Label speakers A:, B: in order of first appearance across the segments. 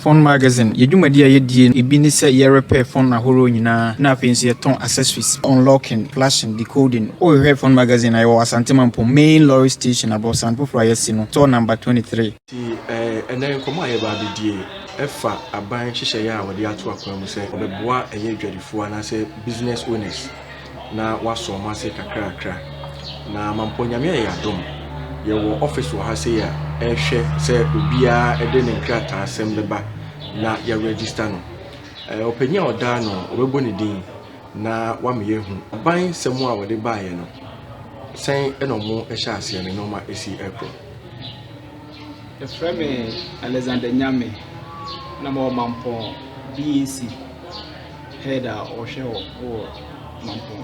A: Phone Magazine, Yɛn dwumadi a yɛdie no bi ne sɛ yɛ repair phone ahorow nyinaa na afei nso yɛtɔn accessories, unlocking, flashing, decoding. Wo hwehwɛ Phone Magazine a, yɛwɔ wɔ Asante Mampong main lorry station aborosan foforɔ a yɛasi no store number 23. Nti ɛnnɛ
B: nkɔmmɔ a yɛreba abɛdie ɛfa aban nhyehyɛeɛ a wɔde ato akwan mu sɛ wɔbɛboa ɛyɛ adwadifoɔ anaasɛ business owners. na wɔasɔ wɔn ase kakrakra. Na mampɔ Nyame ayɛ adom, yɛwɔ office wɔ ha sei a ɛhwɛ sɛ obiara de ne nkrataasɛm bɛba na yɛ register no. Eh, ɔpanyin a ɔdaa no ɔbɛbɔ ne din na wama yɛahu aban sɛm a wɔde baeɛ no sɛn na ɔmo ɛhyɛ aseɛ ne nneɛma esi ɛkorɔ.
C: Ɛfrɛ me Alexander Nyame na mewɔ Mampɔn BAC. head a ɔhwɛ hɔ wɔ mampɔn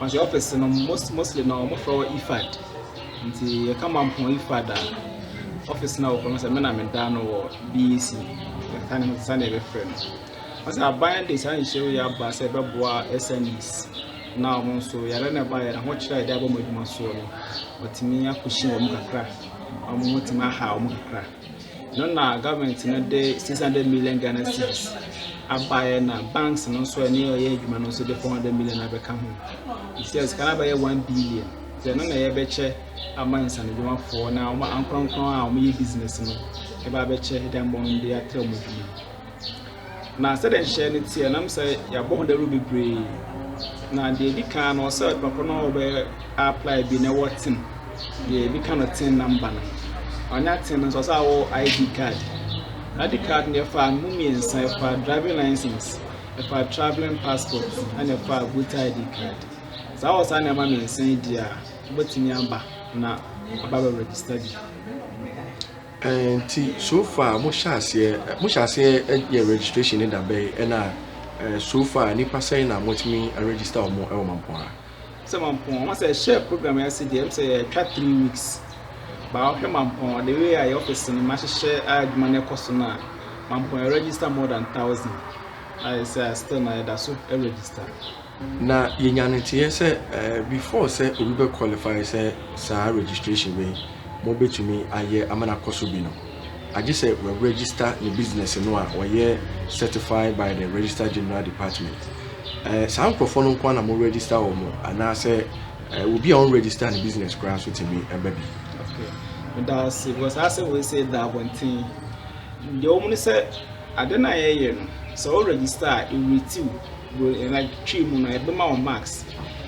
C: ɔsɛ ɔfis no mostly na wɔfrɛ wɔ ifad nti yɛka mampɔn ifad a ɔfis no a wɔkɔ no sɛ mena meda no wɔ bec yɛka ne ho sɛ sɛdeɛ yɛbɛfrɛ no ɔsɛ aban de saa nhyɛw yi aba sɛ ɛbɛboa smes na wɔn nso yɛrɛ na ɛba yɛrɛ ho kyerɛ a yɛde abɔ wɔn adwuma soɔ no wɔtumi akɔhyia wɔn kakra wɔn wɔtumi aha wɔn kakra no na government no de six hundred million ghana cedis abaeɛ na banks no nso ɛne ɔyɛ adwuma no nso de four hundred million abɛka ho sɛ sika no abɛyɛ one billion sɛ ɛno na yɛbɛkyɛ ama nsanodwumafoɔ na wɔn ankorɔnkorɔn a wɔyɛ business no ɛba abɛkyɛ dɛm wɔn de atrɛ wɔn adwuma. Na sɛdeɛ nhyehyɛeɛ no teɛ nam sɛ yɛabɔ ho dawuro bebree na deɛ ɛdi kan no ɔsɛ ɔde papa no a ɔbɛ apply bi na ɛwɔ ten deɛ ɛdi kan no ten namba no ɔnya ten no nso ɔsɛ awɔ id card id card no ɛfa mu mmiɛnsa ɛfa driving license ɛfa traveling passport ɛna ɛfa voter id card saa wɔ saa nneɛma mmiɛnsa yi di a wobɛtumi aba na aba bɛ register bi Nti
B: so far mo hyɛ aseɛ mo hyɛ aseɛ yɛ registration ne da bɛn ɛna so far nipa sɛn na mo tumi register wɔn ɛwɔ mampɔn ha. Sɛ mampɔn
C: wɔn sɛ ɛhyɛ program yɛ ase deɛ ɛm sɛ ɛtwa three weeks baa ɔhwɛ mampɔn the way a yɛ office no ma hyehyɛ a adwuma no ɛkɔ so no a mampɔn yɛ register more than thousand a yɛ sɛ still na yɛda so register. Na
B: yɛnya no nteeɛ sɛ before sɛ obi bɛ qualify sɛ saa registration wei mo bɛtumi ayɛ ama no akɔ so bi no, agye sɛ wɔ register ne business no a wɔyɛ certified by the register general department. Ɛɛ saa nkurɔfoɔ no nko ara na mo register wɔn anaasɛ ɛɛ obi a ɔn register ne business koraa nso tumi ɛbɛ bi. Okay.
C: Meda ase because asɛ wei sɛ da abɔnten deɛ wɔn no sɛ ade no a yɛyɛ no sɛ wo register a ɛwuritiw Bere a yɛtwetwee mu no, ɛbɛma wo marks.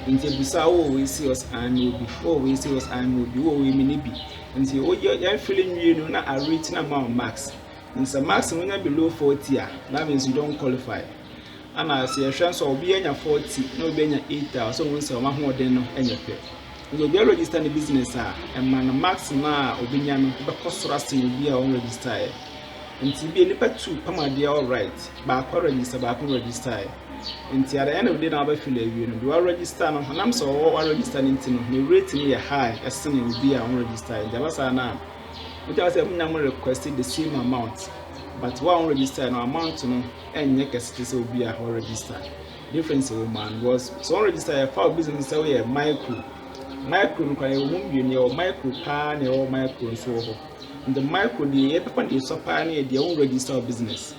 C: Nti ebisaa wo, 'Wowɔ wei serious anaa nyɛ obi? Wowɔ wei serious anaa nyɛ obi? Wowɔ wei me ne bi? Nti woyɛ yɛn fili nwie no na a rate na ma wo marks. Nti sɛ marks no wonya below 40 a, that means you don't qualify. Ana sɛ yɛhwɛ nso a obi anya 40 na obi anya 8 a, ɔsɛ wɔn sɛ wɔn ahoɔden no nyɛ pɛ. Nti obi register ne business a, ɛma no marks no a obenya no bɛkɔ soro asen obi a ɔnregister ɛ. Ntsi bi a nyimpa tuu pam adeɛ a ɔright, baako aregyister, baako registae. Ntsi at the end of the day na wɔabɛfill ewie no, deɛ ɔaregister no, ɔnam sɛ ɔwɔ ɔaregister no ntsi no, ne rate no yɛ high sen obi a ɔnnregistae. Ntsi aba saa no a, motumi aka sɛ mo nyinaa mo request the same amount, but wo a ɔnnregistae no, amount no nnyɛ kɛse te sɛ obi a ɔregister. Difference wɔ mu ara because sɛ ɔnregistae a, ɛfa wo business sɛ woyɛ micro. Micro no koraa yɛwɔ mu mmienu, yɛwɔ micro paa na yɛwɔ micro nso wɔ hɔ. In the micro deɛ yɛbɛfa deɛ ɛsua paa no yɛ deɛ wo register wo business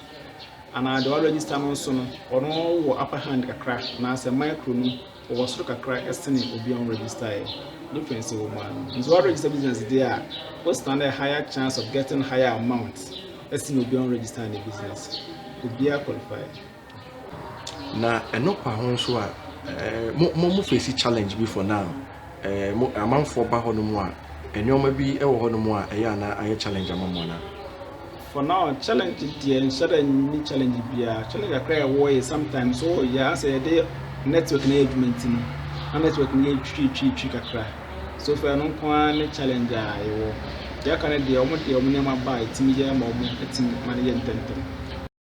C: anaa deɛ wa register no nso no ɔno wɔ upper hand kakra anaasɛ micro no ɔwɔ soro kakra ɛsene obi a register yɛ difference wɔ mu ano nti wa register business deɛ a wo stand a higher chance of getting higher amount ɛsene obi a register ne business obiara qualify
B: Na ɛno kwa ho nso a, eh, mo, mo, mo face challenge bi for now. Eh, mo, amanfoɔ ba hɔ no mu a, nneɛma bi wɔ hɔ no mu a, ɛyɛ ana ayɛ challenge ama mo ana? For now,
C: challenge deɛ nhyɛ da nni challenge biara. Challenge kakra a ɛwɔ yɛ sometimes so oh, yɛ asɛ yɛde network na yɛ adwuma nti no, na network no yɛ twi twi twi kakra. So far no nko ara ne challenge a yɛwɔ. Deɛ aka no deɛ, wɔn deɛ wɔn nneɛma ba a ɛtumi yɛ ma wɔn ɛtumi ma no yɛ ntɛmntɛm.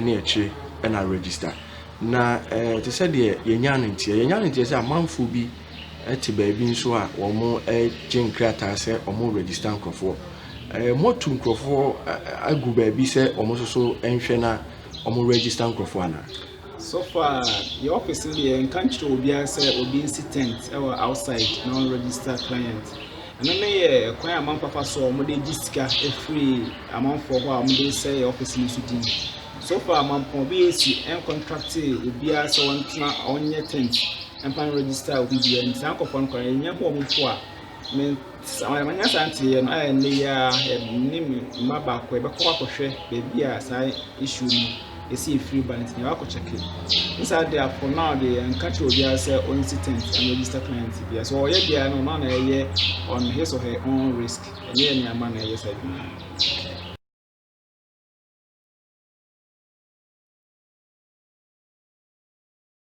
B: ne akyire na register. Na eh, te sɛ deɛ yɛnya no nteɛ yɛnya no nteɛ sɛ amanfoɔ bi te baabi nso a wɔgye nkrataa sɛ wɔn register nkurɔfoɔ eh, moatu nkurɔfoɔ agu baabi sɛ wɔn nso so nhwɛ na wɔn register nkurɔfoɔ anaa. so far
C: yɛ office no deɛ nka nkyerɛ obiara sɛ obi nsi tent ɛwɔ outside na wɔn register client. Ɛno ne yɛ kwan a amanfoɔ afa so a wɔn de gye sika firi amanfoɔ hɔ a wɔn de sɛ yɛ ɔfisi no so din. So far amampɔn BAC ɛncontracte obiara sɛ ɔntena ɔnyɛ tent ɛmpa no register obi biara nti saa nkɔfoɔ no kora yɛnyɛ ho wɔn mpo a me manya saa nteeɛ no a ɛnne yɛ a ɛne me mma baako ɛbɛkɔ akɔhwɛ baabi a saa issue no yɛsi efiri ba nti na wakɔ kyɛke ne saa deɛ for now deɛ yɛn nka kyerɛ obiara sɛ ɔn si tent and register client biara so ɔyɛ biara no ɔno na ɛyɛ on his or her own risk ɛnyɛ yɛn nneɛma na ɛyɛ saa adwuma no.